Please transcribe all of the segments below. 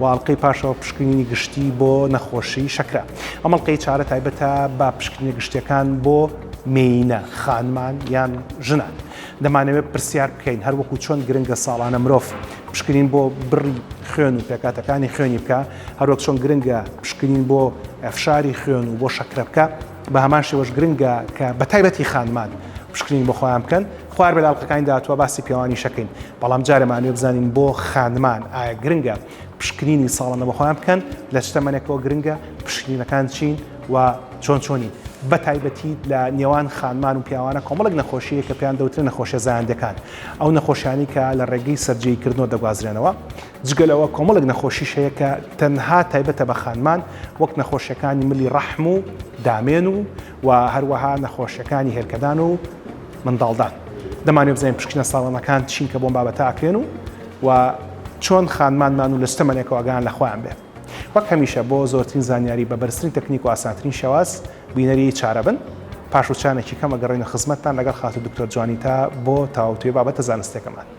و ئەڵقەی پاشەوە پشکنینی گشتی بۆ نەخۆشی شەکرە ئەم ئەڵقەی چارە تایبەتە بە پشکنینە گشتیەکان بۆ مێینە خانمان یان ژنان دەمانەوێت پرسیار بکەین هەر وەکو چۆن گرنگە ساڵانە مرۆڤ پشکنین بۆ بڕی خوێن و پێکاتەکانی خوێنی بکە هەروەک چۆن گرنگە پشکنین بۆ فشاری خوێن و بۆ شەکرە بکە بە هەمان شێوەش گرنگە کە بە تایبەتی خانمان پشکنین بۆ خۆیان بکەن خوار بە لاڵقەکانی داهاتوە باسی پێوانی شەکەین بەڵام جارەمانوێ بزانین بۆ خانمان ئایا گرنگە پشکنینی ساڵانە بە خۆیان بکەن لە چتەمەنێکەوە گرنگە پشکنینەکان چین و چۆن چۆنی بە تایبەتی لە نێوان خانمان و پیاوانە کۆمەڵک نەخۆشیە کە پێیان دەوترێن نەخۆشیە زایاندەکان ئەو نەخۆشیانی کە لە ڕێگەی سەررجەی کردنەوە دەگوازرێنەوە جگە لەوە کۆمەڵێک نەخۆشیش هەیە کە تەنها تایبەتە بە خانمان وەک نەخۆشیەکانی ملی ڕەحم و دامێن و و هەروەها نەخۆشیەکانی هێلکەدان و منداڵدان دەمانێ بزانین پشکنە ساڵانەکان چین کە بۆم بابەتە ئاکرێن و و چۆن خانمانمان و لە ستەمەنێکەوەگان لە خۆیان بێت وەک هەمیشە بۆ زۆرترین زانیاری بە بەرزترین تەکنیک و ئاسانترین شێواز بینەری چارە بن پاش وچانێکی کەمە گەڕێنە خزمەتتان لەگەڵ خاتو دکتۆر جوانیتا بۆ تاوتوێ بابەتە زانستێکەمان.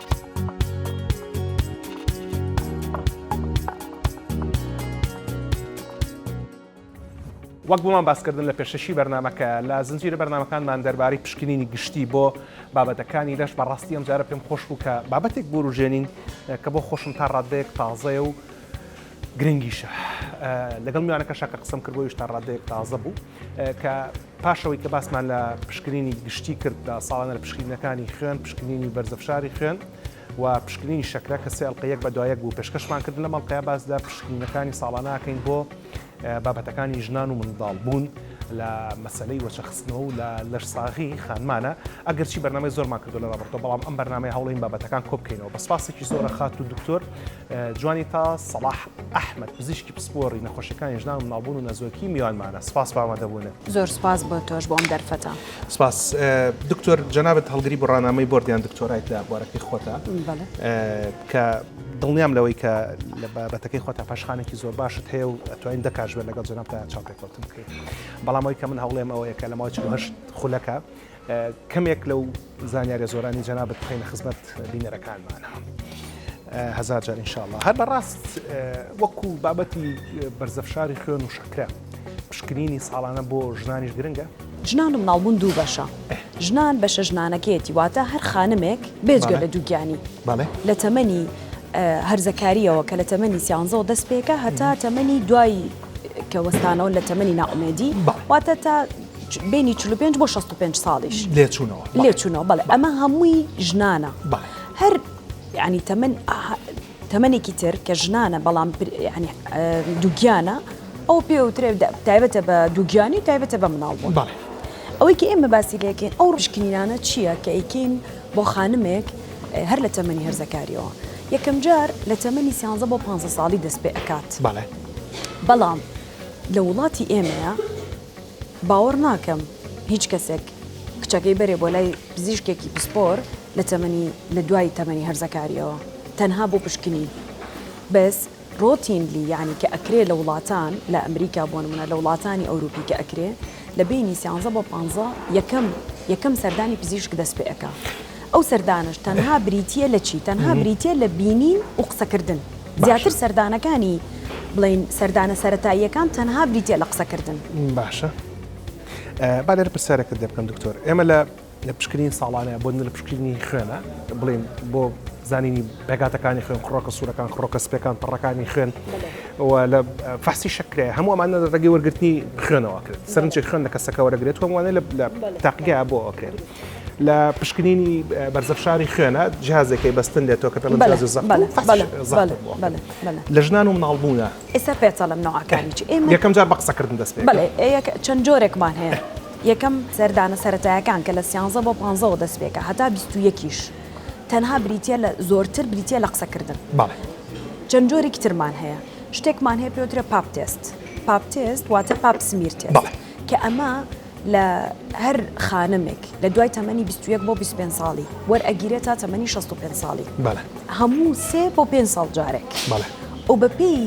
وەک بۆمان باسکردن لە پێشەکی بەرنامەکە لە زنجیرە بەرنامەکانمان دەربارەی پشکنینی گشتی بۆ بابەتەکانی لەش بەڕاستی ئەم جارە پێم خۆش بوو کە بابەتێک بوروژێنین کە بۆ خۆشم تا ڕاددەیەک تازەیە و گرنگیشە لەگەڵ میوانەکە شەکە قسم کرد بۆیش تا ڕاددەیەک تازە بوو. کە پاش ئەوەی کە باسمان لە پشکنینی گشتی کرد لە ساڵانە لە پشکینەکانی خوێن پشکنینی بەرزە فشاری خوێن و پشکنینی شەکرە کە سێڵقە یەک بە دوایەک بوو پێشکەشمان کرد لە مەڵقەیە باس لە پشکینەکانی ساڵاناکەین بۆ بابەتەکانی ژنان و منداڵ بوون لە مەسلەی وەچەخستنەوە و لە لەش ساغی خانمانە ئەگەرچی بەرنامەی زۆرمان کردو لە ڕابرتۆ بەڵام ئەم بەرنمەی هەوڵین بابەتەکان کۆبکەینەوە بە سپاسێکی زۆرە خات و دکتۆر جوانیتا سەڵاح ئەحمەد پزیشکی پسپۆڕی نەخۆشیەکانی ژنان و مناڵبوون و نەزۆکی میوانمانە سپاس بە ئامادەبوونت. زۆر سپاس بۆ تۆش بۆ ئەم دەرفەتە. سپاس دکتۆر جەنابت هەڵگری بڕانامەی بۆرد یان دکتۆرایت لە بوارەکەی خۆتە کە دڵنیام لەوەی کە لە بابەتەکەی خۆتە پاشخانێکی زۆر باشت هەیە و ئەتوانین دەکاش بێت لەگەڵ جەنابتا چاوپێکەوتن بکەین بەڵام ئەوی کە من هەوڵێم ئەوەیە کە لە ماوەی 48 خولەکە کەمێک لەو زانیاریە زۆرانی جەنابت بخەینە خزمەت بینەرەکانمانە هەزار جار انشاءله هەر بەڕاست وەکو بابەتی بەرزەفشاری خوێن و شەکرە پشکنینی ساڵانە بۆ ژنانیش گرنگە ژنان و مناڵبوون دوو بەشە ژنان بەشە ژنانەکەیەتی واتە هەر خانمێک بێجگە لە دووگیانی لە تەمەنی هەرزەکاریەوە کە لە تەمەنی سیانزەوە دەست پێکە هەتا تەمەنی دوای کە وەستانەوە لە تەمەنی ناومێدی واتە تا بینی چل و پێنج بۆ شەست و پێنج ساڵیش لێچوونەوە لێچوونەوە بەڵێ ئەمە هەمووی ژنانە هەر ینی تەمەن تەمەێکی تر کە ژنانە بەڵام ینی دووگیانە ئەو پێوترێ تایبەتە بە دووگیانی و تایبەتە بە مناڵ بوون بەڵێ ئەوەی کە ئێمە باسی لەکەین ئەو ڕشکنینانە چییە کە ئەیکەین بۆ خانمێک هەر لە تەمەنی هەرزەکاریەوە یەکەم جار لە تەمەنی سیانزە بۆ پ ساڵی دەست پێ ئەکات بەڵێ بەڵام لە وڵاتی ئێمەیە باوەڕ ناکەم هیچ کەسێک کچەکەی بەرێ بۆ لای پزیشکێکی پسپۆر لە تەمەنی لە دوای تەمەنی هەرزەکاریەوە تەنها بۆ پشکنی بەس ڕۆتینلی یانی کە ئەکرێ لە وڵاتان لە ئەمریکا بۆ نمونە لە وڵاتانی ئەوروپی کە ئەکرێ لە بینی سیانزە بۆ پانزە یەکەم یەکەم سەردانی پزیشک دەست پێ ئەکا ئەو سەردانەش تەنها بریتیە لە چی؟ تەنها بریتیە لە بینین و قسەکردن. زیاتر سەردانەکانی بڵین سەردانە سەرەتاییەکان تەنها بریتە لە قسەکردن. باشە با لێرە پرسیارەکە دێ بکەم دکتۆر ئێمە لە لە پشکرین ساڵانە بۆ لە پشکردنی خوێنە بڵین بۆ زانینی پێگاتەکانی خوێن خڕۆکە سوورەکان خڕۆکە سپەکان پڕەکانی خوێن لە فەسی شکرێ هەموو ئەمانە ڕێگەی وەرگرتنی خوێنەوە کرد سەرنجێک خوێن لە کەسەکە وەرەگرێت هەمووانە لە تاقیگا بۆ ئەکرێت لە پشکنینی بەرزەف شاری خوێنە جیازێکی بەستن لێتەوە کە پێڵم جیازی زەق لە ژنان و مناڵ بوونە ئێستا پێچەڵم نەوەکانی چ ئێمە یەکەم جار بە قسەکردن دەست پێ چەند جۆرێکمان هەیە یەکەم سەردانە سەتایەکان کە لە سیانزە بۆ پانزەوە دەست پێکە هەتا بیست و یەکیش تەنها بریتە لە زۆرتر بریتە لە قسەکردن چەند جۆرێکی ترمان هەیە شتێکمان هەیە پێوترە پاپ تێست پاپ تێست واتە پاپ سمیرتێ کە ئەمە لە هەر خانمێک لە دوای تەمەنی بیست و یەک بۆ بیست و پێنج ساڵی وەرئەگیرێت تا تەمەنی شەست و پێنج ساڵی بەڵێ هەموو سێ بۆ پێنج ساڵ جارێک بەڵێ و بەپێی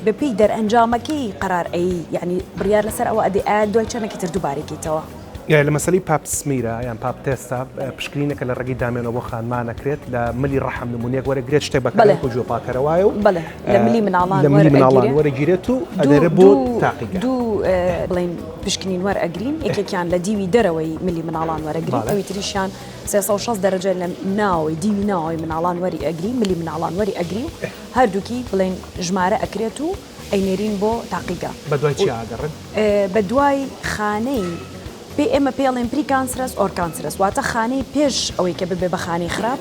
بەپێی دەرئەنجامەکەی قەرار ئەی یانی بڕیار لەسەر ئەوە ئەدەی ئایا دوای چەندێکی تر دووبارەیکەیتەوە؟ لە مەسەلەی پاپ سمیرە یان پاپ تێستا پشکنینێکە لە ڕەگی دامێنەوە بۆ خانمان ئەکرێت لە ملی ڕەحم نموونەیەک وەرەگرێت شتێک بە کەلێنک و گوێ پاکەرە وایە و بەڵێ لە ملی مناڵان لە ملی مناڵان وەرەگیرێت و ئەوێرە بۆ تاقیگە دوو بڵێین پشکنین وەرئەگرین یەکێکیان لە دیوی دەرەوەی ملی مناڵان وەرەگرین ئەوی تریشیان سێ سەد و شەست دەرەجە لە ناوەوەی دیوی ناوەوەی مناڵان وەری ئەگرین ملی مناڵان وەری ئەگرین و هەردووکی بڵێن ژمارە ئەکرێت و ئەینێرین بۆ تاقیگە بە دوای چیا ئەگەڕێن؟ بە دوای خانەی پێ ئێمە پێڵێن پری کانسرەس ئۆر کانسرەس واتە خانەی پێش ئەوەی کە ببێ بە خانەی خراپ.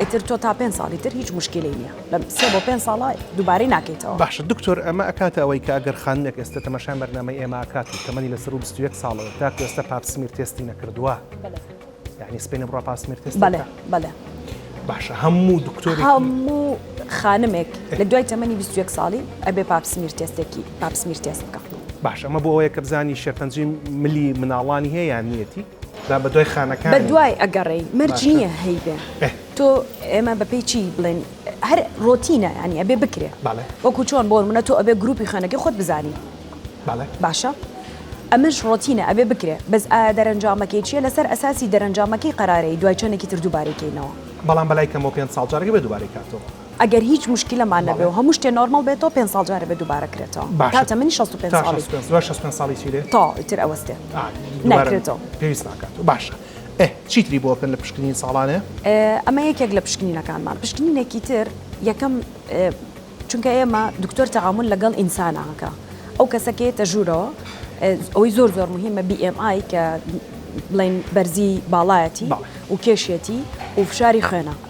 ئیتر تۆ تا پێنج ساڵی تر هیچ موشکیلەی نیە لە سێ بۆ پێنج ساڵە دووبارەی ناکەیتەوە. باشە دکتۆر ئەمە ئەکاتە ئەوەی کە ئەگەر خانمێک ئێستە تەماشای بەرنامەی ئێمە ئەکات و تەمەنی لە سەروو بیست و یەک ساڵە و تاکو ئێستە پاپسمییر تێستی نەکردووە یانی سپێنی بڕە پاسمییر تێست بەلێ بەلێ باشە هەموو دکتۆر هەموو خانمێک لە دوای تەمەنی بیست و یەک ساڵی ئەبێ پاپسمییر تێستێکی پاپسمییر تێست بکا. باشە ئەمە بۆ ئەوەیە کە بزانی شێرپەنجەی ملی مناڵانی هەیە یان نیەتی؟ جا بە دوای خانەکان بە دوای ئەگەڕێی مەرج نییە هەیبێ تۆ ئێمە بەپی چی بڵێن هەر ڕۆتینە ینی ئەبێ بکرێ وەکو چۆن بۆ منە تۆ ئەبێ گروپی خوێنەکە خۆت بزانی باشە ئەمەش ڕۆتینە ئەبێ بکرێ بەس ئایا دەرەنجامەکەی چیە لەسەر ئەساسی دەرەنجامەکەی قەرارەی دوای چەندێکی تر دووبارەکەینەوە بەڵام بەلای کەمەوە پێ ساڵ جارگە بێ دووبارەی کاتەوە ئەگەر هیچ موشکیلەمان نەبێ و هەموو شتێ نۆرماڵ بێتەوە پێنج ساڵ جارێ بێ دووبارە کرێتەوە باشە تا تەمەنی شەست و پێنج تا ساڵی شەست و پێنج دوای شەست و پێنج ساڵی چی دێ تا ئیتر ئەوەستێ ئا دووبارە نەکرێتەوە پێویست ناکاتەوە باشە ئێ چیتری بۆ بکەن لە پشکنین ساڵانێ؟ ئێ ئەمە یەکێک لە پشکنینەکانمان پشکنینێکی تر یەکەم ئێ چونکە ئێمە دکتۆر تەعامول لەگەڵ ئینسانە هەکە ئەو کەسە کە یەتە ژوورەوە ئێ ئەوەی زۆر زۆر مهمە بی ئێم ئای کە بڵێن بەرزی باڵایەتی بەڵێ و کێشێتی و فشاری خوێنە.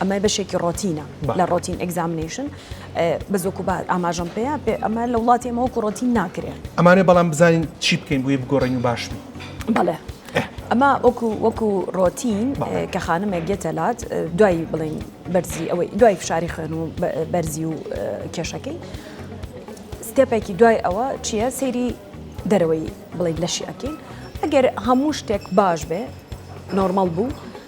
ئەمە بەشێکی ڕۆتینە لە ڕۆتین ئەگزامنیشن بە زۆک و بار ئاماژەم پێەیە پێ ئەمە لە وڵاتی ئەمەوە کوڕۆتین ناکرێ ئەمانێ بەڵام بزانین چی بکەین بۆی بگۆڕین و باش بین بەڵێ ئەمە وەکو وەکو ڕۆتین کە خانمێک گێتەلات دوای بڵین بەرزی ئەوەی دوای فشاری خوێن و بەرزی و کێشەکەی ستێپێکی دوای ئەوە چییە سەیری دەرەوەی بڵین لەشی ئەکەین ئەگەر هەموو شتێک باش بێ نۆرمەڵ بوو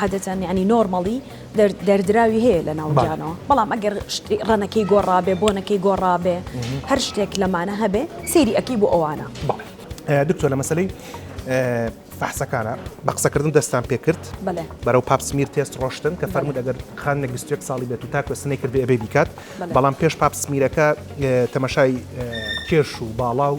عادەتەن یانی نۆرمەڵی دەردراوی هەیە لە ناو گیانەوە بەڵام ئەگەر ڕەنەکەی گۆڕابێ بۆنەکەی گۆڕابێ هەر شتێک لەمانە هەبێ سەیری ئەەکەی بۆ ئەوانە دکتۆ لە مەسلەی فحسەکانە بە قسەکردن دەستان پێکرد بەرەو پاپسمیر تێست ڕۆشتن کە فەرمو دەگەر خانێک 21 ساڵی بێت و تا کوێستنەی کرد ئەبێ بیکات بەڵام پێش پاپسمیرەکە تەمەشای کێش و باڵا و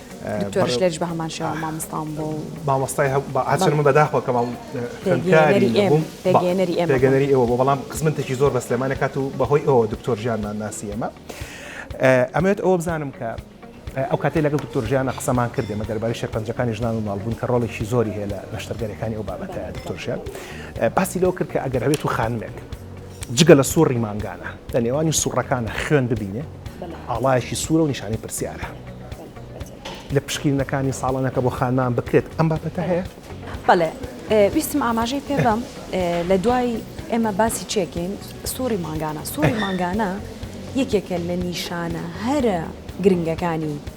دکتۆرش لێرش بە هەمان شێوە مامۆستام بوو و مامۆستای هەبوو بە هەرچەند من بەداخەوە کە خوێندکاری نەبووم پێگەیەنەری ئێمە پێگەنەری ئێوە بۆ بەڵام خزمەتێکی زۆر بە سلێمانێک کات و بەهۆی ئەوە دکتۆر ژیانمان ناسی ئێمە ئەمەوێت ئەوە بزانم کە ئەو کاتێ لەگەڵ دکتۆر ژیانە قسەمان کردێ مە دەرباری شەرپەنجەکانی ژنان و ماڵبوون کە ڕۆڵێکی زۆری هەیە لە نەشتەرگەریەکانی ئەو بابەتە دکتۆر ژیان باسی لەوە کرد کە ئەگەر هەوێت و خانمێک جگە لە سوڕی مانگانە لە نێوانی سوڕەکانە خوێن ببینێ ئاڵایەکی سوورە و نیشانەی پرسیارە لە پشکینەکانی ساڵانەکە بۆ خانمان بکرێت ئەم بابەتە هەیە بەڵێ ویستم ئاماژەی پێ بەم لە دوای ئێمە باسی چێکین سوڕی مانگانە سوڕی مانگانە یەکێکە لە نیشانە هەرە گرنگەکانی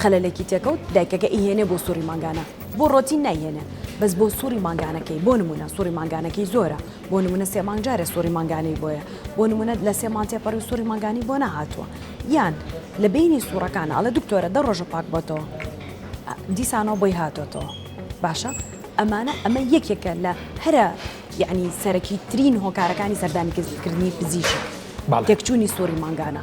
خەلەلێکی تێکەوت دایکەکە ئیهێنێ بۆ سوڕی مانگانە بۆ ڕۆتین نایهێنێ بەس بۆ سوڕی مانگانەکەی بۆ نمونە سوڕی مانگانەکەی زۆرە بۆ نمونە سێ مانگ جارێ سوڕی مانگانەی بۆیە بۆ نمونە لە سێ مانگ تێپەڕیو سوڕی مانگانی بۆ نەهاتووە یان لە بەینی سوڕەکانا ئەڵێ دکتۆرە دە ڕۆژە پاک بۆتەوە دیسانەوە بۆی هاتۆتەوە باشە ئەمانە ئەمە یەکێکە لە هەرە یعنی سەرەکی ترین هۆکارەکانی سەردانیکردنی پزیشک بەڵێ. تێکچوونی سوڕی مانگانە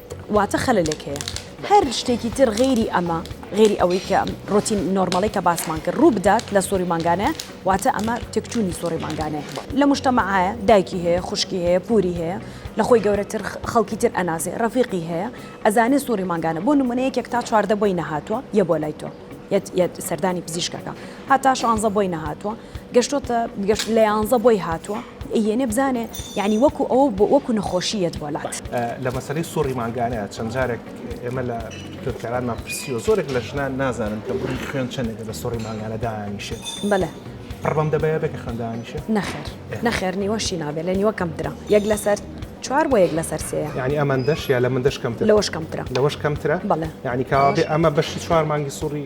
واتە خەلەلێک هەیە. هەر شتێکی تر غەیری ئەمە غێری ئەوەی کە ڕۆتین نۆرمەڵی کە باسمان کرد ڕوو بدات لە سۆری مانگانەیە واتە ئەمە تێکچوونی سۆری مانگانەیە لە مشتەمەعایە دایکی هەیە خوشکی هەیە پوری هەیە لە خۆی گەورەتر خەڵکی تر ئەناسێ ڕەفیقی هەیە ئەزانێ سۆری مانگانە بۆ نمونەیەکێک تا چواردە بۆی نەهاتووە یە بۆ لای تۆ یەت یەت سەردانی پزیشکەکە هەتا شانزە بۆی نەهاتوە گەشتۆتە گەشت لە یانزە بۆی هاتوە یەێ بزانێ یعنی وەکو ئەو وەکو نەخۆشیت بۆلات لە مەسەی سوڕی مانگانە چەند جارێک ئێمە لە خوێندکارانمان پرسیوە زۆرێک لە ژنان نازانن کە بڕی خوێن چەندێک لە سوڕی مانگانە دانیشێت بەە پڕبم دەبێت بێکە خوێندانیشێت نەخێر نەخێر نیوەشی نابێت لە نیوە کەمترا یەک لەسەر چوار بۆ یەک لەسەر سێ ینی ئەمان دەش یا لە من دەشکەم لەوەش کەمترا لەوەش کەمترا بەڵێ ینی کاوابێ ئەمە بەشی چوار مانگی سوڕی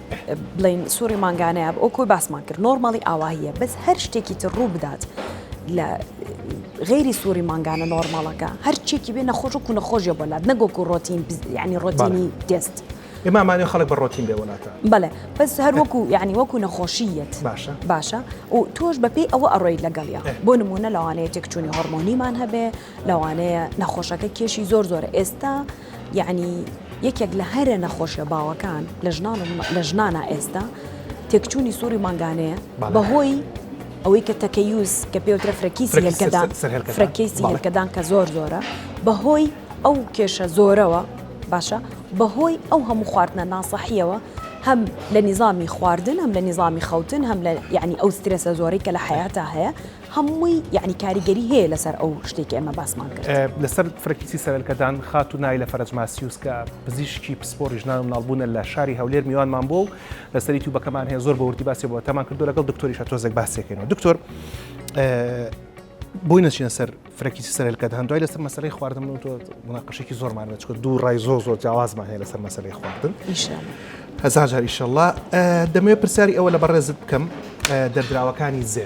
بڵێن سوڕی مانگانەیە ئۆکۆی باسمان کرد نۆرماڵی ئاواهە بەس هەر شتێکی تر ڕوو بدات لە غیری سووری مانگانە نۆرماڵەکە هەرچێکی بێ نەخۆش و نەخۆشیە بەلات نەگۆک و ڕۆتین ینی ڕۆتینی دەست ئێمامانێ خەڵک بە ڕۆتین بێ وڵاتە بەڵێ بەس هەر وەکو ینی وەکو نەخۆشیەت باشە باشە و تۆش بەپی ئەوە ئەڕۆی لەگەڵە بۆ نمونە لەوانەیە تێکچوونی هۆرمۆنیمان هەبێ لەوانەیە نەخۆشەکە کێشی زۆر زۆرە ئێستا یەعنی یەکێک لە هەرە نەخۆشیە باوەکان لە ژنان و لە ژنانە ئێستا تێکچوونی سووری مانگانەیە بەهۆی ئەوەی کە تەکەیوز کە پێوترە فرەکیسی هێلکەدان فرەکەیسی هێلکەدان کە زۆر زۆرە بەهۆی ئەو کێشە زۆرەوە باشە بەهۆی ئەو هەموو خواردنە ناسەحیەوە هەم لە نظامی خواردن هەم لە نظامی خەوتن هەم لە یعنی ئەو سترێسە زۆری کە لە حیاتا هەیە هەمووی یەعنی کاریگەری هەیە لەسەر ئەو شتەی کە ئێمە باسمان کرد. لەسەر فرەکیسی سەرەلکەدان، خاتوو نایلە فەرەج ماسیوس کە پزیشکی پسپۆڕی ژنان و مناڵبوونە لە شاری هەولێر میوانمان بووە و لەسەر یوتیوبەکەمان هەیە زۆر بە وردی باسی بابەتەکەمان کردووە لەگەڵ دکتۆریش هەر تۆزێک باسی دەکەینەوە دکتۆر بۆی نەچینە سەر فرەکیسی سەرەلکەدان دوای لەسەر مەسەرەی خواردن و تۆ مناقەشێکی زۆرمان بە چکە دوو ڕای زۆر زۆر جیاوازمان هەیە لەسەر مەسەرەی خواردن هەزار جار ئیشەڵڵا دەمەوێت پرسیاری ئەوە لە بەڕێزت بکەم دەردراوەکانی زێ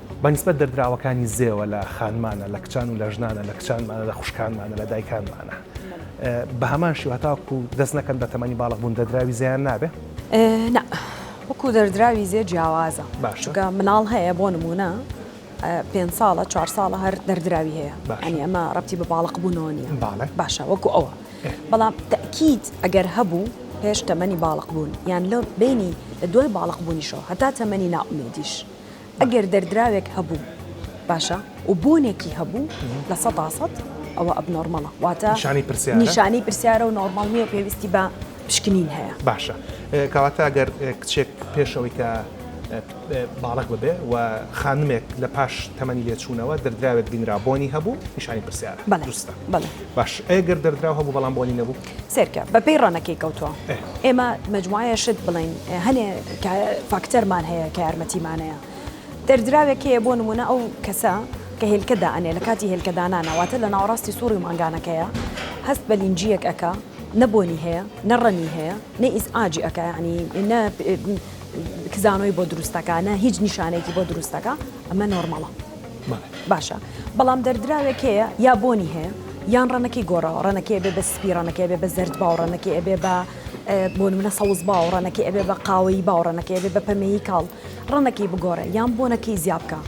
بە نیسبەت دەردراوەکانی زێوە لە خانمانە، لە کچان و لە ژنانە، لە کچانمانە، لە خوشکانمانە، لە دایکانمانە. بە هەمان شێوە هەتاوەکو دەست نەکەن بە تەمەنی باڵغ بوون دەردراوی زێیان نابێ؟ نا، وەکو دەردراوی زێ جیاوازە. باشە. چونکە مناڵ هەیە بۆ نموونە پێنج ساڵە، چوار ساڵە هەر دەردراوی هەیە. باشە. یانی ئەمە ڕەبتی بە باڵغ بوونەوە نییە. بەڵێ. باشە وەکو ئەوە. ئێ. بەڵام تەئکید ئەگەر هەبوو پێش تەمەنی باڵغ بوون یان لە بەینی لە دوای باڵغ بوونیشەوە هەتا تەمەنی نائومێدیش. ئەگەر دەردراوێک هەبوو باشە و بۆنێکی هەبوو لە سەدا سەد ئەوە ئەب نۆرمەڵە واتە نیشانی پرسیار نیشانەی پرسیارە و نۆرمەڵ نییە پێویستی بە پشکنین هەیە باشە کەواتە گەر کچێک پێشەوەی کە باڵک ببێ و خانمێک لە پاش تەمەنی لێچوونەوە دەردراوێت بینرا بۆنی هەبوو نیشانی پرسیار بەڵێ دروستە بەڵێ باش ئەگەر دەردراو هەبوو بەڵام بۆنی نەبوو سەیرکە بە پێی ڕەنەکەی کەوتوە. ئێمە مەجموعەیە شت بڵێین هەنێ فاکتەرمان هەیە کە یارمەتیمانەیە. دەردراوێک هەیە بۆ نمونە ئەو کەسە کە هێلکە دائەنێ لە کاتی هێلکە دانانا واتە لە ناوەڕاستی سوڕی مانگانەکەیە هەست بە لینجییەک ئەکا نە بۆنی هەیە نە ڕەنی هەیە نە ئیزعاجی ئەکا یانی نە کزانۆی بۆ دروست ئەکا نە هیچ نیشانەیەکی بۆ دروست ئەکا ئەمە نۆرماڵە. باشە بەڵام دەردراوێک هەیە یا بۆنی هەیە یان ڕەنەکەی گۆڕاوە ڕەنەکەی بێ بە سپی ڕەنەکەی بێ بە زرد باوڕەنەکەی ئەبێ بە بۆ منە سەوز باوڕەنەکەی ئەبێ بە قاوەی باوڕەنەکەی بێ بە پەمەیی کاڵ ڕەنەکەی بگۆڕێ یان بۆنەکەی زیابکە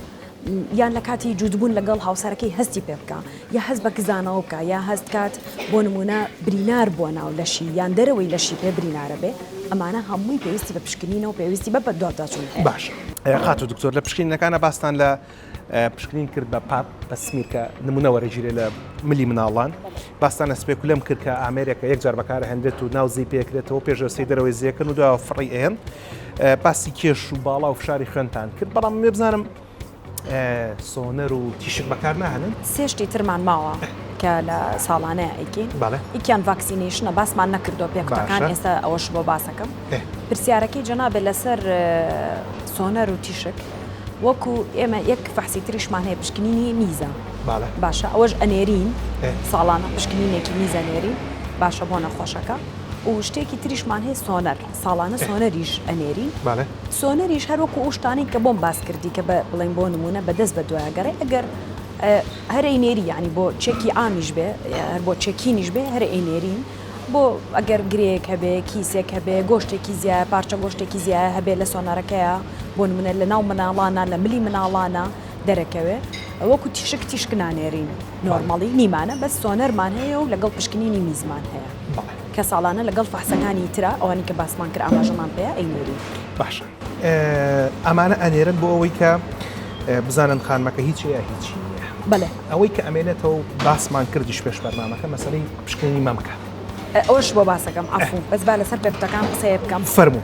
یان لە کاتی جووتبوون لەگەڵ هاوسەرەکەی هەستی پێ بکە یا هەست بە کزانەوە بکا یا هەست کات بۆ نموونە برینار بووە ناو لەشی یان دەرەوەی لەشی پێ برینارە بێ ئەمانە هەمووی پێویستی بە پشکنینەوە پێویستی بە بەدواداچوون هەیە. باشە خاتوو دکتۆر لە پشکنینەکانا باستان لە پشکنین کرد بە پاپ بە سمیر کە نموونە وەرەگیرێ لە ملی مناڵان باستان لە سپێکولەم کرد کە ئامێرێکە یەک جار بەکار ئەهێنرێت و ناو زێی پێ ئەکرێتەوە پێش جەستەی دەرەوەی زێ ئەکەن و دوایەوە فڕی ئەیەن باسی کێش و باڵا و فشاری خوێنتان کرد بەڵام مێ بزانم سۆنەر و تیشک بەکار ناهێنن. سێ شتی ترمان ماوە کە لە ساڵانەیە ئەیکەین. بەڵێ. یەکیان ڤاکسینەیشنە باسمان نەکردووە پێ قوتەکان ئێستا ئەوەش بۆ باسەکەم. پرسیارەکەی جەنابت لەسەر سۆنەر و تیشک وەکو ئێمە یەک فەحسی تریشمان هەیە پشکنینی میزە. بەڵێ. باشە ئەوەش ئەنێرین ساڵانە پشکنینێکی میز ئەنێرین باشە بۆ نەخۆشەکە و شتێکی تریشمان هەیە سۆنەر ساڵانە سۆنەریش ئەنێرین. بەڵێ. سۆنەریش هەر وەکو ئەو شتانەی کە بۆم باس کردی کە بە بڵێین بۆ نموونە بە دەست بە دوایە گەڕێ ئەگەر هەر ئەینێری یانی بۆ چێکی عامیش بێ هەر بۆ چێکینیش بێ هەر ئەینێری بۆ ئەگەر گرێک هەبێ کیسێک هەبێ گۆشتێکی زیایە پارچە گۆشتێکی زیایە هەبێ لە سۆنەرەکەیە بۆ منە لە ناو مناڵانە لە ملی مناڵانە دەرەکەوێ وەکو تیشک تیشک نانێرین نۆرمەڵی نیمانە بە سۆنەرمان هەیە و لەگەڵ پشکنینی میزمان هەیە. کە ساڵانە لەگەڵ فەحسەکانی ترا ئەوانی کە باسمان کرد ئاماژەمان پێیە ئەینێرین. باشە ئەمانە ئەنێرن بۆ ئەوەی کە بزانن خانمەکە هیچ یا هیچی نییە. بەڵێ ئەوەی کە ئەمێنێتەوە باسمان کردیش پێش بەرنامەکە مەسەلەی پشکنینی مەمکە. ئەوەش بۆ باسەکەم عەفوو بەس با لەسەر پێکوتەکان قسەیە بکەم. فەرموو.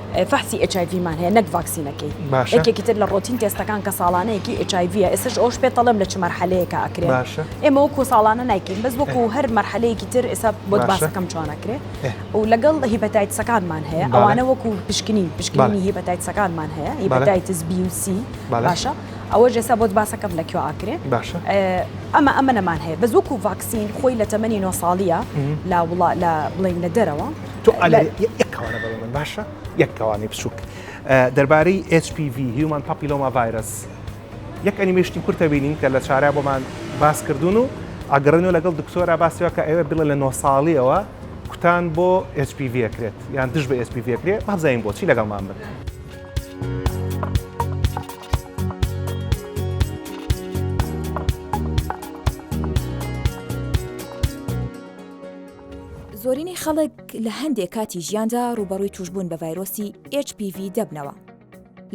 فەحسی ئێچ ئای ڤی مان هەیە نەک ڤاکسینەکەی باشە یەکێکی تر لە ڕۆتین تێستەکان کە ساڵانەیەکی ئێچ ئای ڤیە ئێستش ئەوش پێت دەڵێم لە چ مەرحەلەیەکە ئەکرێ باشە ئێمە وەکو ساڵانە نایکەین بەس وەکو ئێ. هەر مەرحەلەیەکی تر ئێستا بۆت باشە باسەکەم چۆن ئەکرێ ئێ. و لەگەڵ هیپەتایتسەکانمان هەیە بەڵێ ئەوانە وەکو پشکنین پشکنینی بەڵێ هیپەتایتسەکانمان هەیە بەڵێ هیپەتایتس بی و سی بەڵێ باشە ئەوەش ئێستا بۆت باسەکەم لە کوێ ئەکرێ باشە ئێ ئەمە ئەمنەمان هەیە بەس وەکو ڤاکسین خۆی لە تەمەنی نۆ ساڵیە لا وڵا لا بڵێین لە دەرەوە. تۆ یەک کاوانە بەڵێ من باشە یەک کاوانی بچووک دەربارەی HPV هیومان پاپیلۆما ڤایرس یەک ئەنیمێشتی کورتە بینیم کە لە چارە بۆمان باس کردوون و ئەگەڕێنەوە لەگەڵ دکتۆرا باسیەوە کە ئێوە بڵێ لە نۆ ساڵیەوە کوتان بۆ HPV کرێت یان دژ بە HPV کرێت بابزانین بۆچی لەگەڵمان بن. زۆرینەی خەڵک لە هەندێک کاتی ژیاندا ڕوبەڕووی توشببوون بە ڤایرۆسی HPV دەبنەوە.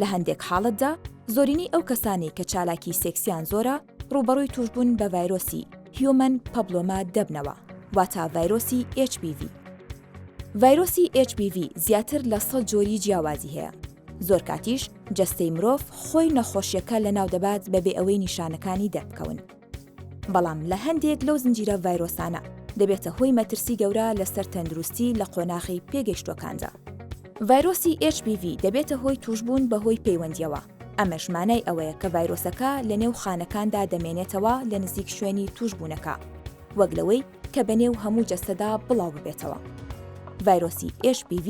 لە هەندێک حاڵەتدا زۆرینەی ئەو کەسانی کە چالاکی سێکسیان زۆرە ڕوبەڕووی توشببوون بە ڤایرۆسی هیومەن پەبلۆما دەبنەوە واتا ڤایرۆسی HPV. ڤایرۆسی HPV زیاتر لە سە جۆری جیاوازی هەیە. زۆر کاتیش جەستەی مرۆڤ خۆی نەخۆشیەکە لە ناو دەبات بەبێ ئەوەی نیشانەکانی دەربکەون. بەڵام لە هەندێک لەو زنجیرە ڤایرۆسانە دەبێتە هۆی مەترسی گەورە لەسەر تەندروستی لە قۆناغی پێگەیشتووەکاندا. ڤایرۆسی HBV دەبێتە هۆی تووشبوون بەهۆی پەیوەندییەوە، ئەمەش مانای ئەوەیە کە ڤایرۆسەکە لەنێو خانەکاندا دەمێنێتەوە لە نزیک شوێنی تووشبوونەکە، وەک لەوەی کە بە نێو هەموو جەستەدا بڵاو ببێتەوە. ڤایرۆسی HPV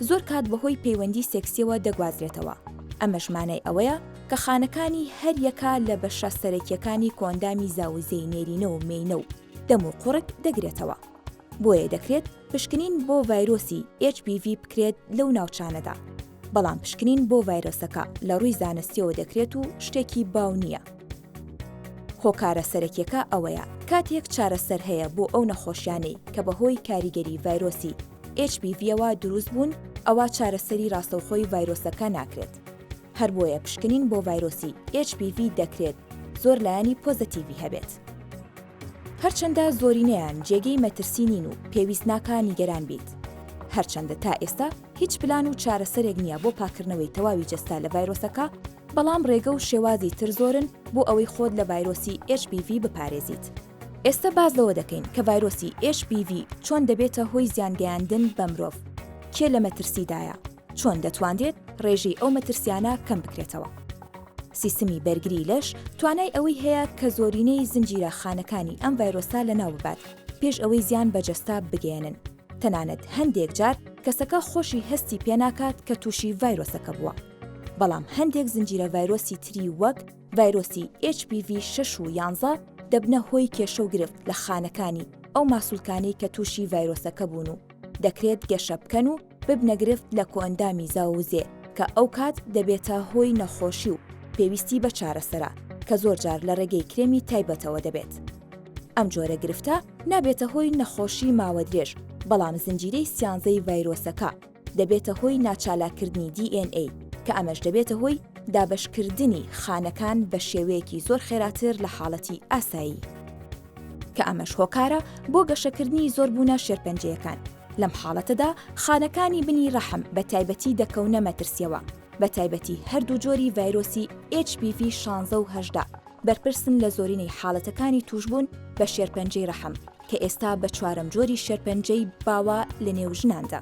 زۆر کات بەهۆی پەیوەندی سێکسیەوە دەگوازرێتەوە، ئەمەش مانای ئەوەیە کە خانەکانی هەر یەکە لە بەشە سەرەکیەکانی کۆئەندامی زاوزێی نێرینە و مێینە و دەم و قوڕگ دەگرێتەوە، بۆیە دەکرێت پشکنین بۆ ڤایرۆسی HPV بکرێت لەو ناوچانەدا، بەڵام پشکنین بۆ ڤایرۆسەکە لە ڕووی زانستیەوە دەکرێت و شتێکی باو نیە. هۆکارە سەرەکیەکە ئەوەیە کاتێک چارەسەر هەیە بۆ ئەو نەخۆشیانەی کە بەهۆی کاریگەری ڤایرۆسی HPV ەوە دروست بوون ئەوا چارەسەری ڕاستەوخۆی ڤایرۆسەکە ناکرێت هەربۆیە پشکنین بۆ ڤایرۆسی HPV دەکرێت زۆر لایەنی پۆزەتیڤی هەبێت. هەرچەندە زۆرینەیان جێگەی مەترسی نین و پێویست ناکا نیگەران بیت هەرچەندە تا ئێستا هیچ پلان و چارەسەرێک نییە بۆ پاکردنەوەی تەواوی جەستە لە ڤایرۆسەکە، بەڵام ڕێگە و شێوازی تر زۆرن بۆ ئەوەی خۆت لە ڤایرۆسی HPV بپارێزیت. ئێستە باس لەوە دەکەین کە ڤایرۆسی HPV چۆن دەبێتە هۆی زیانگەیاندن بە مرۆڤ، کێ لە مەترسیدایە، چۆن دەتوانرێت ڕێژەی ئەو مەترسیانە کەم بکرێتەوە. سیستمی بەرگری لەش توانای ئەوەی هەیە کە زۆرینەی زنجیرە خانەکانی ئەم ڤایرۆسە لەناو ببات پێش ئەوەی زیان بە جەستە بگەیەنن، تەنانەت هەندێک جار کەسەکە خۆشی هەستی پێناکات کە تووشی ڤایرۆسەکە بووە. بەڵام هەندێک زنجیرە ڤایرۆسی تری وەک ڤایرۆسی HPV شەش و یانزە دەبنە هۆی کێشە و گرفت لە خانەکانی ئەو ماسولکانەی کە تووشی ڤایرۆسەکە بوون و دەکرێت گەشە بکەن و ببنە گرفت لە کۆئەندامی زاووزێ کە ئەو کات دەبێتە هۆی نەخۆشی و پێویستی بە چارەسەرە کە زۆر جار لە ڕێگەی کرێمی تایبەتەوە دەبێت. ئەم جۆرە گرفتە نابێتە هۆی نەخۆشی ماوەدرێژ بەڵام زنجیرەی سیانزەی ڤایرۆسەکە دەبێتە هۆی ناچالاککردنی DNA، کە ئەمەش دەبێتە هۆی دابەشکردنی خانەکان بە شێوەیەکی زۆر خێراتر لە حاڵەتی ئاسایی، کە ئەمەش هۆکارە بۆ گەشەکردنی زۆربوونە شێرپەنجەیەکان، لەم حاڵەتەدا خانەکانی بنی ڕەحم بە تایبەتی دەکەونە مەترسییەوە، بە تایبەتی هەردوو جۆری ڤایرۆسی HPV شانزە و هەژدە بەرپرسن لە زۆرینەی حاڵەتەکانی تووشبوون بە شێرپەنجەی ڕەحم. کە ئێستا بە چوارەم جۆری شێرپەنجەی باوە لە نێو ژناندا.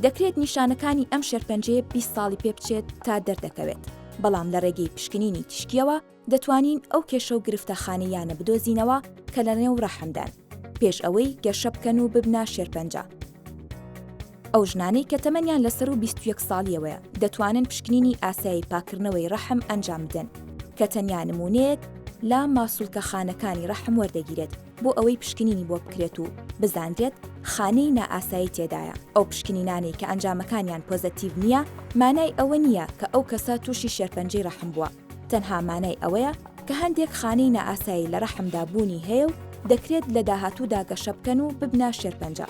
دەکرێت نیشانەکانی ئەم شێرپەنجەیە بیست ساڵی پێ بچێت تا دەردەکەوێت، بەڵام لە ڕێگەی پشکنینی تیشکیەوە دەتوانین ئەو کێشە و گرفتە خانەییانە بدۆزینەوە کە لە نێو ڕەحمدان، پێش ئەوەی گەشە بکەن و ببنە شێرپەنجە. ئەو ژنانەی کە تەمەنیان لە سەروو بیست و یەک ساڵییەوەیە دەتوانن پشکنینی ئاسایی پاککردنەوەی ڕەحم ئەنجام بدەن کە تەنیا نموونەیەک لە ماسوولکەخانەکانی ڕەحم وەردەگیرێت بۆ ئەوەی پشکنینی بۆ بکرێت و بزانرێت خانەی نائاسایی تێدایە. ئەو پشکنینانەی کە ئەنجامەکانیان پۆزەتیڤ نییە مانای ئەوە نییە کە ئەو کەسە تووشی شێرپەنجەی ڕەحم بووە، تەنها مانای ئەوەیە کە هەندێک خانەی نائاسایی لە ڕەحمدا بوونی هەیە و دەکرێت لە داهاتوودا گەشە بکەن و ببنە شێرپەنجە.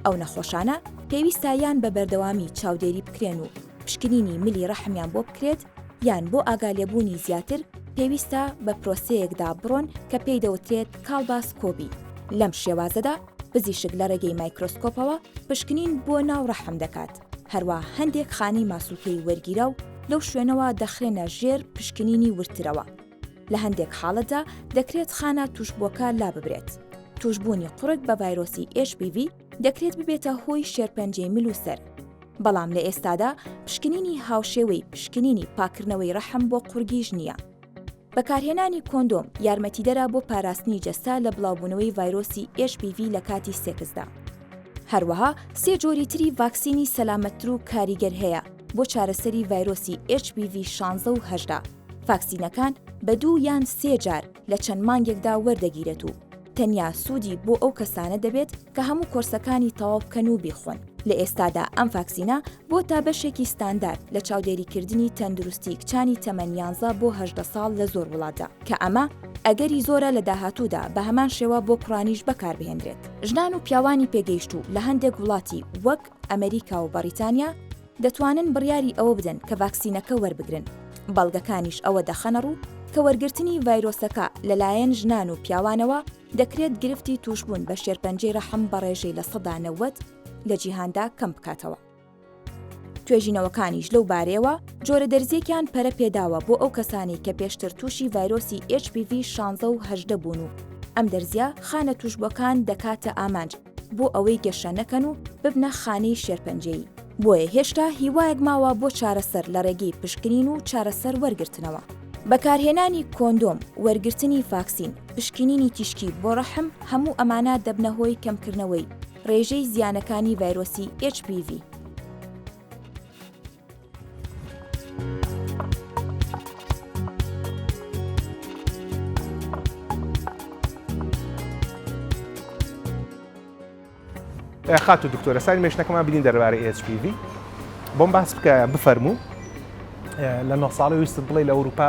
ئەو نەخۆشانە پێویستە یان بە بەردەوامی چاودێری بکرێن و پشکنینی ملی ڕەحمیان بۆ بکرێت یان بۆ ئاگالێبوونی زیاتر پێویستە بە پرۆسەیەکدا بڕۆن کە پێی دەوترێت کاڵباس کۆبی لەم شێوازەدا پزیشک لە ڕێگەی مایکرۆسکۆپەوە پشکنین بۆ ناو ڕەحم دەکات هەروە هەندێک خانەی ماسوولکەی وەرگیرا و لەو شوێنەوە دەخرێنە ژێر پشکنینی ورترەوە لە هەندێک حاڵەتدا دەکرێت خانە تووشبووەکە لاببرێت. تووشبوونی قوڕگ بە ڤایرۆسی HPV دەکرێت ببێتە هۆی شێرپەنجەی مل و سەر، بەڵام لە ئێستادا پشکنینی هاوشێوەی پشکنینی پاککردنەوەی ڕەحم بۆ قوڕگیش نییە. بەکارهێنانی کۆندۆم یارمەتیدەرە بۆ پاراستنی جەستە لە بڵاوبوونەوەی ڤایرۆسی HPV لە کاتی سێکسدا. هەروەها سێ جۆری تری ڤاکسینی سەلامەتتر و کاریگەر هەیە بۆ چارەسەری ڤایرۆسی HPV 16 و 18. ڤاکسینەکان بە دوو یان سێ جار لە چەند مانگێکدا وەردەگیرێت و تەنیا سوودی بۆ ئەو کەسانە دەبێت کە هەموو کۆرسەکانی تەواو بکەن و بیخۆن. لە ئێستادا ئەم ڤاکسینە بۆتە بەشێکی ستاندارد لە چاودێریکردنی تەندروستی کچانی تەمەن یانزە بۆ هەژدە ساڵ لە زۆر وڵاتدا، کە ئەمە ئەگەری زۆرە لە داهاتوودا بە هەمان شێوە بۆ کوڕانیش بەکاربهێنرێت. ژنان و پیاوانی پێگەیشتوو لە هەندێک وڵاتی وەک ئەمەریکا و بەڕیتانیا دەتوانن بڕیاری ئەوە بدەن کە ڤاکسینەکە وەربگرن، بەڵگەکانیش ئەوە دەخەنەڕوو کە وەرگرتنی ڤایرۆسەکە لەلایەن ژنان و پیاوانەوە دەکرێت گرفتی تووشبوون بە شێرپەنجەی ڕەحم بە ڕێژەی لە سەدا نەوەد لە جیهاندا کەم بکاتەوە. توێژینەوەکانیش لەو بارەیەوە جۆرە دەرزییەکیان پەرە پێداوە بۆ ئەو کەسانەی کە پێشتر تووشی ڤایرۆسی HPV شانزە و هەژدە بوون و ئەم دەرزییە خانە تووشبووەکان دەکاتە ئامانج، بۆ ئەوەی گەشە نەکەن و ببنە خانەی شێرپەنجەیی. بۆیە هێشتا هیوایەک ماوە بۆ چارەسەر لە ڕێگەی پشکنین و چارەسەر وەرگرتنەوە. بەکارهێنانی کۆندۆم، وەرگرتنی فاکسین، پشکنینی تیشکی بۆ ڕەحم، هەموو ئەمانە دەبنە هۆی کەمکردنەوەی ڕێژەی زیانەکانی ڤایرۆسی HPV. خاتو دکتۆرە ساری مێشنەکەمان بینین دەربارەی HPV بۆم باس بکە بفەرموو لە نۆ ساڵی ویستت بڵێ لە ئەوروپا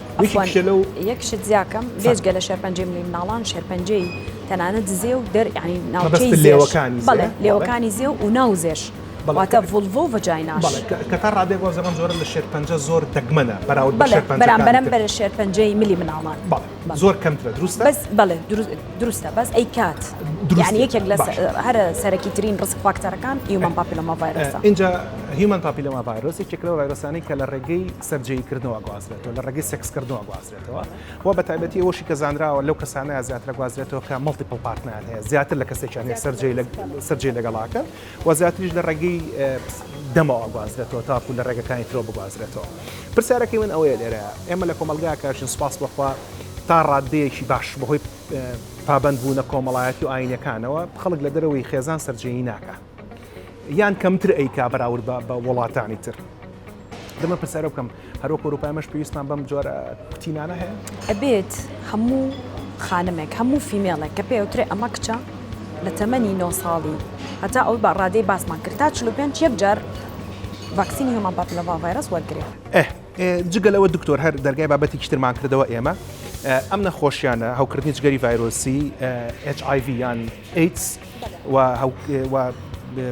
یەک شت زیاکەم بێجگە لە شێرپەنجەی ملی مناڵان شێرپەنجەی تەنانەت زێ و دەر ینی ناوچەی لێوەکانی بڵێ لێوەکانی زێ و ناو زێش بەڵاتە ڤڵڤۆ ڤجیناش کە تا ڕادێک وەز ئەم جۆرە لە شێرپەنجە زۆر دەگمەنە بەراود بەرامبەرم بەرە شێرپەنجەی ملی مناڵان زۆر کەمترە دروستە بەڵێ دروستە بەس ئەی کات دروستانی یەکێک لە هەرە سەرەکی ترین ڕسک فاکتەرەکان هیومن پاپیلۆما ڤایرۆسە اینجا هیومن پاپیلۆما ڤایرۆسی چێکلەوە ڤایرۆسانی کە لە ڕێگەی سەر جێی کردنەوە ئەگوازرێتەوە لە ڕێگەی سێکس کردنەوە ئەگوازرێتەوە و بە تایبەتی ئەوەشی کە زانراوە لەو کەسانەیە زیاتر ئەگوازرێتەوە کە مەڵتیپڵ پارتنەیان هەیە زیاتر لە کەسێکیان هەیە سەر جێی سەر جێی لەگەڵ ئاکەن و زیاتریش لە ڕێگەی دەمەوە ئەگوازرێتەوە تاکو لە ڕێگەکانی ترەوە بگوازرێتەوە پرسیارەکەی من ئەوەیە لێرە ئێمە لە کۆمەلگاکە ژن سوپاس بەخوا تا ڕاددەیەکی باش بەهۆی پابەندبوونە کۆمەڵایەتی و ئاینەکانەوە خەڵک لە دەرەوەی خێزان سەر جێی ناکە یان کەمتر ئەیکا بەراورد بە بە وڵاتانی تر دەمە پرسیارە بکەم هەرۆک ئۆروپایمەش پێویستمان بەم جۆرە کوتینانە هەیە ئەبێت هەموو خانمێک هەموو فیمێڵێک کە پێوترێ ئەمە کچە لە تەمەنی نۆ ساڵی هەتا ئەو بە ڕادەی باسمان کرد تا چ پێنج یەک جار ڤاکسینی هەمان پاپلەڤ ڤایرس وەرگێ جگە لەوە دکتۆر هەر دەرگای بابەتی کشترمان کردەوە ئێمە ئەم نەخۆشیانە هەوکردنی جگەری ڤایرۆسی HIV یان ئەیتس و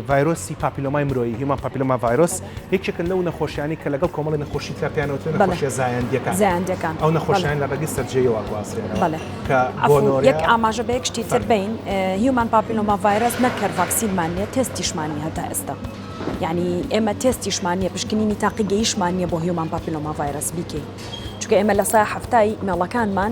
ڤایرۆسی پاپیلۆمای مرۆیی، Human Papilloma Virus، یەکێکن لەو نەخۆشیانەی کە لەگەڵ کۆمەڵی نەخۆشی ترا پێیان وترێ نەخۆشیە زایەندیەکان، ئەو نەخۆشیانە لە ڕێگەی سەرجێیەوە ئەگوازرێنەوە کە گۆنۆریا. یەک ئاماژە بە یەک شتی تر بەین، Human Papilloma Virus نەک هەر ڤاکسینمان نیە، تێستیشمان نیە هەتا ئێستا. یانی ئێمە تێستیشمان نیە، پشکنینی تاقیگەییشمان نیە بۆ Human Papilloma Virus بیکەین. چونکە ئێمە لە سەا حەفتای مێڵەکانمان،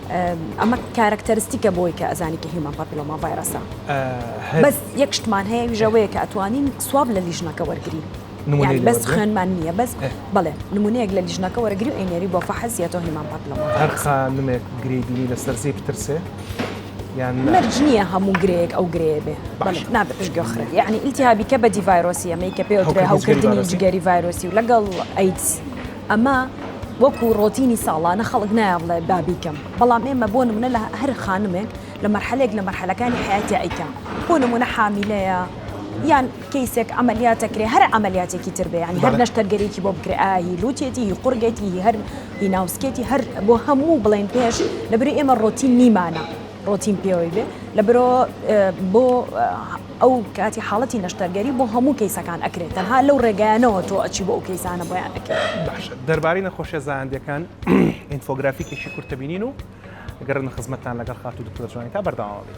ئەمە کارکتەرستیکە بۆی کە ئەزانی کە هیومەن پاپیلۆما ڤایرەسە بەس یەک شتمان هەیە ویژەوەیە کە ئەتوانین سواب لە لیژنەکە وەرگین بەس خوێنمان نییە بەس بڵێ نمونەیەک لە لیژنەکە وەرەگری و ئەینێری بۆ فەحزیەوە هیمان پاپلەوە هەر خانمێک گری بینی لەسەر زی بترسێ یان مەرج نییە هەموو گرێک ئەو گرێ بێ نابێت پشتگە خرێ یعنی ئیلتیهابیکە بەدی ڤایرۆسی ئەمەی کە پێ هەوکردنی جگەری ڤایرۆسی و لەگەڵ ئەیدز. ئەمە وەکو ڕۆتینی ساڵانە خەڵک نایە بڵێ با بیکەم بەڵام ئێمە بۆ نمونە لە هەر خانمێک لە مەرحەلێک لە مەرحەلەکانی حیاتی ئەیکەم بۆ نمونە حامیلەیە یان کەیسێک ئەعملیاتە کرێ هەر ئەعملیاتێکی تر بێ ینی هەر نەشتەرگەرێکی بۆ بکرێ ئاهی لوتێتی هی قورگێتی هی هەر هی ناوسکێتی هەر بۆ هەموو بڵێن پێش لەبری ئێمە ڕۆتین نیمانە ڕۆتین پێوەی بێ لە برۆ بۆ ئەو کاتی حاڵەتی نەشتەرگەری بۆ هەموو کەیسەکان ئەکرێت تەنها لەو ڕێگایانەوە تۆ ئەچی بۆ ئەو کەیسانە بۆیان ئەکەی. باشە دەربارەی نەخۆشیە زایەندەکان ئینفۆگرافیکێکی کورت دەبینین و ئەگەڕێنە خزمەتتان لەگەڵ خاتوو دکتۆرە جوانیتا بەردەوام بن.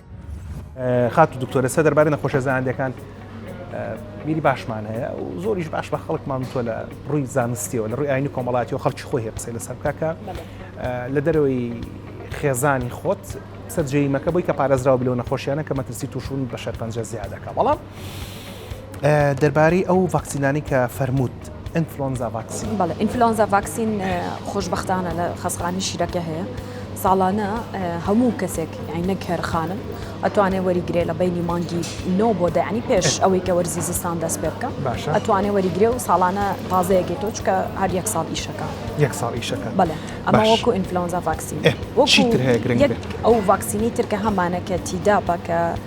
خاتو دکتۆر لەسەر دەربارەی نەخۆشە زانندەکان بیری باشمان هەیە و زۆریش باش بە خەڵکمان تۆ لە ڕووی زانستیەوە لە ڕووی ئاینی کۆمەڵاتی و خەڵکی خۆی هەیە قسەی لەسەر بکە کە لە دەرەوەی خێزانی خۆت سەررجەیمەکە بۆی کە پارێزراوە بلەوە نەخۆشیانە کە مەترسی تووشون بە شەرپەنجە زیادەکە بەڵام دەربارەی ئەو ڤاکسینانەی کە فەرمووت ئینفلۆنزا ڤاکسین. بەڵێ ئینفلۆنزا ڤاکسین خۆشبەختانە لە خەستخانەی شیرەکە هەیە ساڵانە هەموو کەسێک یعنی نەک هەر خانم ئەتوانێ وەریگرێ لە بینی مانگی نۆ بۆ دەعنی پێش ئەوەی کە وەرزی زستان دەست پێ بکە باشە ئەتوانێ وەریگرێ و ساڵانە تازەیەکی تۆ چکە هەر یەک ساڵ ئیشەکە یەک ساڵ ئیشەکە بەڵێ ئەمە وەکو ئینفلۆنزا ڤاکسین ئەو ڤاکسینی ترکە هەمانە کە تیدا بە کە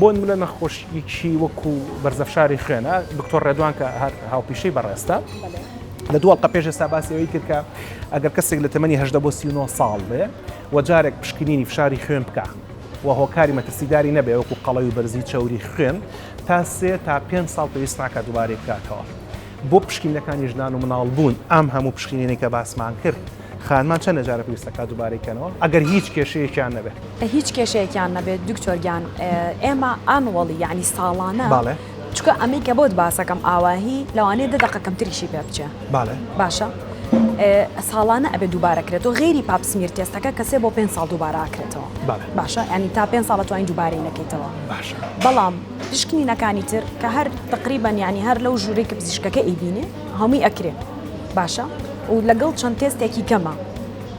بۆ نمونە نەخۆشیەکی وەکو بەرزەفشاری خوێنە دکتۆر ڕێدوان کە هەر هاوپیشەی بەڕێستە لە دوو ئەڵقە پێش ئێستا باسی ئەوەی کرد کە ئەگەر کەسێک لە تەمەنی هەژدە بۆ سی و نۆ ساڵ بێ و جارێک پشکنینی فشاری خوێن بکا و هۆکاری مەترسیداری نەبێ وەکو قەڵەوی بەرزی چەوری خوێن تا سێ تا پێنج ساڵ پێویست ناکات دووبارەی بکاتەوە بۆ پشکینەکانی ژنان و مناڵ بوون ئەم هەموو پشکینێنی کە باسمان کرد خانمان چەندە جارە پێویستەکە دووبارەی کەنەوە ئەگەر هیچ کێشەیەکیان نەبێت هیچ کێشەیەکیان نەبێت دکتۆرگیان ئێمە ئەنوەڵی یعنی ساڵانە باڵێ چکە ئەمەی کە بۆت باسەکەم ئاواهی لەوانەیە دە دقە کەمتریشی پێ بچێ باڵێ باشە ساڵانە ئەبێ دووبارەکرێت و غێری پاپسمیر تێستەکە کەسێ بۆ پێ ساڵ دووباراکرێتەوە باشە ئەنی تا پێ ساڵە توانین دووبارەی نەکەیتەوە باشە بەڵام پشکنینەکانی تر کە هەر تەقریبەن یانی هەر لەو ژوورەی کە پزیشکەکە ئەیبینێ هەمووی ئەکرێ باشە و لەگەڵ چەند تێستێکی کەمە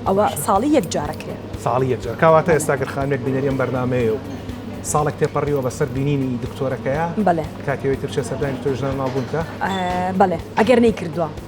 ئەوە ساڵی یەک جار ئەکرێ. ساڵی یەک جار کاواتە ئێستا گەر خانمێک بینەری ئەم بەرنامەیە و ساڵێک تێپەڕیوە بەسەر بینینی دکتۆرەکەیا بەڵێ کاتی ئەوەی تر بچێ سەردانی دکتۆری ژنان و ماڵبوون بکا؟ بەڵێ ئەگەر نەیکردووە.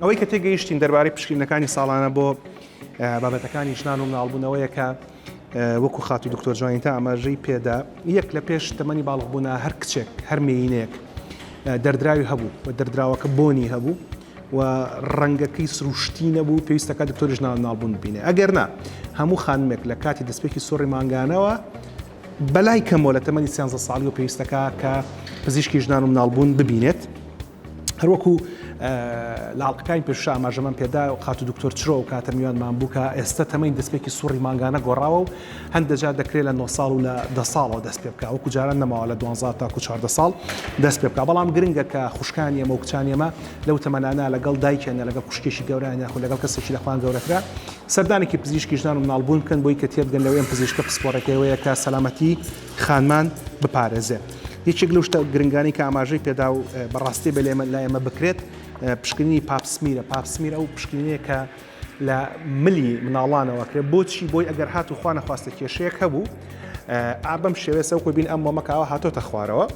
ئەوەی کە تێگەیشتین دەربارەی پشکینەکانی ساڵانە بۆ بابەتەکانی ژنان و مناڵبوونەوەیە کە وەکو خاتی دکتۆر جوانی تا ئاماژەی پێدا یەک لە پێش تەمەنی باڵغبوونا هەر کچێک هەر مینێک دەردراوی هەبوو و دەردراوەکە بۆنی هەبوو و ڕەنگە کەی سروشتی نەبوو پێویستە کە دکتۆریش ناو ناڵبوون ببینێ ئەگەر نا هەموو خانمێک لە کاتی دەستپێکی سوڕی مانگانەوە بەلای کەمەوە لە تەمەنی سیانزە ساڵی و پێویستەکە کە پزیشکی ژنان و مناڵبوون ببینێت هەروەکو لاڵقەکانی پێشش ئاماژەمان پێدا و خاتو دکتۆر چرۆ و کاتە میوانمان بوو کە ئێستا تەمەین دەستپێکی سوڕی مانگانە گۆڕاوە و هەندێک جار دەکرێت لە نۆ ساڵ و لە دە ساڵەوە دەست پێ بکات، وەکو جاران نەماوە لە دوانزە تاکو چواردە ساڵ دەست پێ بکات، بەڵام گرنگە کە خوشکانی ئێمە و کچانی ئێمە لەو تەمەنانە لەگەڵ دایکیان یان لەگەڵ خوشکێکی گەورەیان یاخود لەگەڵ کەسێکی لە خۆیان گەورەترە سەردانێکی پزیشکی ژنان و مناڵبوون بکەن بۆی کە تێبگەن لەوەی ئەم پزیشکە پسپۆڕێکەی ئەوەیە کە سەلامەتی خانمان بپارێزێت. یەکێک لەو شتە گرنگانەی کە ئاماژەی پێدا و بە ڕاستی ئەبێت لای ئێمە بکرێت پشکنینی پاپ سمیرە، پاپ سمیر ئەو پشکنینەیە کە، لە ملی مناڵانەوە کرێ بۆچی بۆی ئەگەر هات و خوا نەخواستە کێشەیەک هەبوو ئا بەم شێوێ سەوکۆ بین ئەم مۆمە کاوە هاتۆتە خوارەوە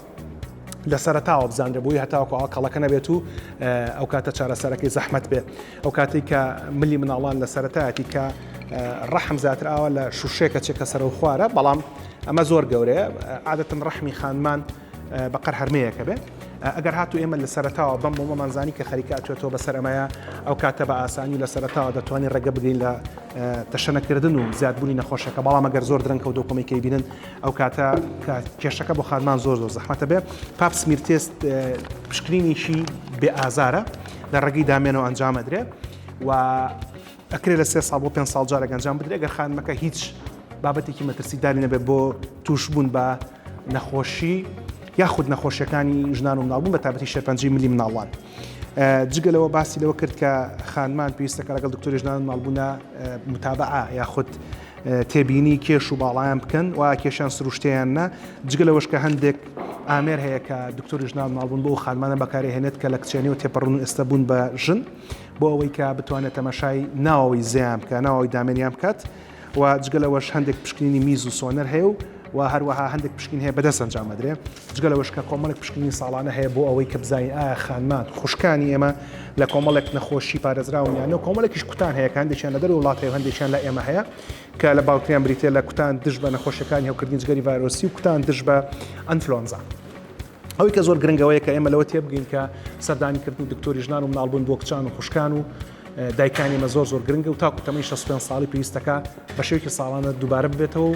لە سەرتاوە بزانرە بۆی هەتاوەکو ئەو کەڵەکە نەبێت و ئەو کاتە چارەسەرەکەی زەحمت بێ ئەو کاتی کە ملی مناڵان لە سەرەتایەتی کە ڕەحم زیاتر ئاوە لە شوشێکە چێکە سەرەوە خوارە بەڵام ئەمە زۆر گەورەیە عادەتن ڕەحمی خانمان بە قەر هەرمێیەکە بێ ئەگەر هاتو ئێمە لە سەرتاوە بەم بۆمەمان زانی کە خەریکە ئەتوێتەوە بەسەر ئەمەیە ئەو کاتە بە ئاسانی و لە سەرتاوە دەتوانین ڕێگە بگرین لە تەشەنەکردن و زیادبوونی نەخۆشەکە بەڵام ئەگەر زۆر درەنکە و دۆکۆمیکەی بینن ئەو کاتە کە کێشەکە بۆ خانمان زۆر زۆر زەحمەتە بێ پاپ سمیر تێست پشکنینیشی بێ ئازارە لە ڕێگەی دامێنەوە ئەنجامەدرێ و ئەکرێت لە سێ ساڵ بۆ پێنج ساڵ جارێک ئەنجام بدرێت ئەگەر خانمەکە هیچ بابەتێکی مەترسیداری نەبێت بۆ تووشبوون بە نەخۆشی یاخود نەخۆشیەکانی ژنان و مناڵبوون بە تابەتی شێرپەنجی ملی مناڵان جگەلەوە باسی لەوە کرد کە خانمان پێویستە کە لەگەڵ دکتۆری ژنان و مناڵبوونا متابعە یاخود تێبینی کێش و باڵیان بکەن و کێشان سروشتیان نە جگە لەوەش کە هەندێک ئامێر هەیە کە دکتۆری ژنان مناڵبوون بۆ خانمانە بەکارهێنێت کە لە کچێنی و تێپەڕون و ئێستا بوون بە ژن بۆ ئەوەی کە بتوانێت تەماشای ناوەوەی زێیان بکە ناوەوەی دامێنیان بکات و جگە لەوەش هەندێک پشکنینی میز و سۆنەر هەیە و و هەروەها هەندێک پشکین هەیە بەدەست ئەنجامەدرێ جگە لە وشکە کۆمەڵک پشکنی ساڵانە هەیە بۆ ئەوەی کە بزانین ئایا خانمان خوشکانی ئێمە لە کۆمەڵێک نەخۆشی پارێزراون یانە و کۆمەڵێکیش کوتان هەیە هەندێکیان لە دەر وڵات هەیە هەندێکیان لە ئێمە هەیە کە لە باوتریان بریتە لە کوتان دژ بە نەخۆشیەکانی هەوکردنی جگەری ڤایرۆسی و کوتان دژ بە ئەنفلۆنزا. ئەوەی کە زۆر گرنگە ئەوەیە کە ئێمە لەوە تێبگەین کە سەردانیکردنی دکتۆری ژنان و مناڵبوون بۆ کچان و خوشکان و دایکانی مە زۆر زۆر گرنگە و تاکو تەمەی 65 ساڵی پێویستەکە بە شێوکی ساڵانە دووبارە ببێتەوە و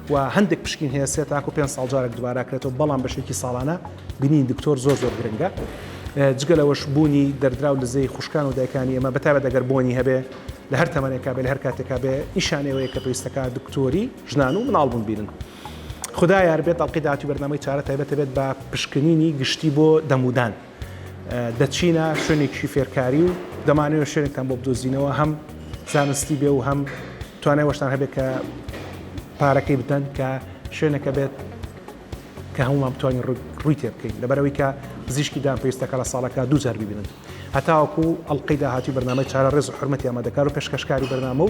و هەندێک پشکین هەیە سێ تاکو پێ ساڵجارێک دووباراکرێتەوە بەڵام بە شێوکی ساڵانە بینین دکتۆر زۆر زۆر گرنگە. جگە لەوەش بوونی دەردراو لزەی خوشکان و دایکانی ئەمە بەتابە دەگەر بۆنی هەبێ لە هەر تەمەێکا بێ لە هەر کاتێکا بێ نیشانەوەیە کە پێویستەکە دکتۆری ژنان و مناڵبوون بینن. خودا یار بێت ئەڵقەی داهاتووی بەرنامەی چارە تایبەت دەبێت بە پشکنینی گشتی بۆ دەمودان دەچینە شوێنێکی فێرکاری و دەمانەوە شوێنێکتان بۆ بدۆزینەوە هەم زانستی بێ و هەم توانای وەشتان هەبێت کە پارەکەی بدەن کە شوێنەکە بێت کە هەمومان بتوانین ڕووی تێ بکەین لەبەرەوەی کە پزیشکی دان پێویستەکە لە ساڵەکە دوو جار ببینن هەتاوەکو ئەڵلقەی داهاتوی بەرنامەی چارە ڕێز و حرمەتی ئەمە دەکار و پێشکەشکاری بەرنامە و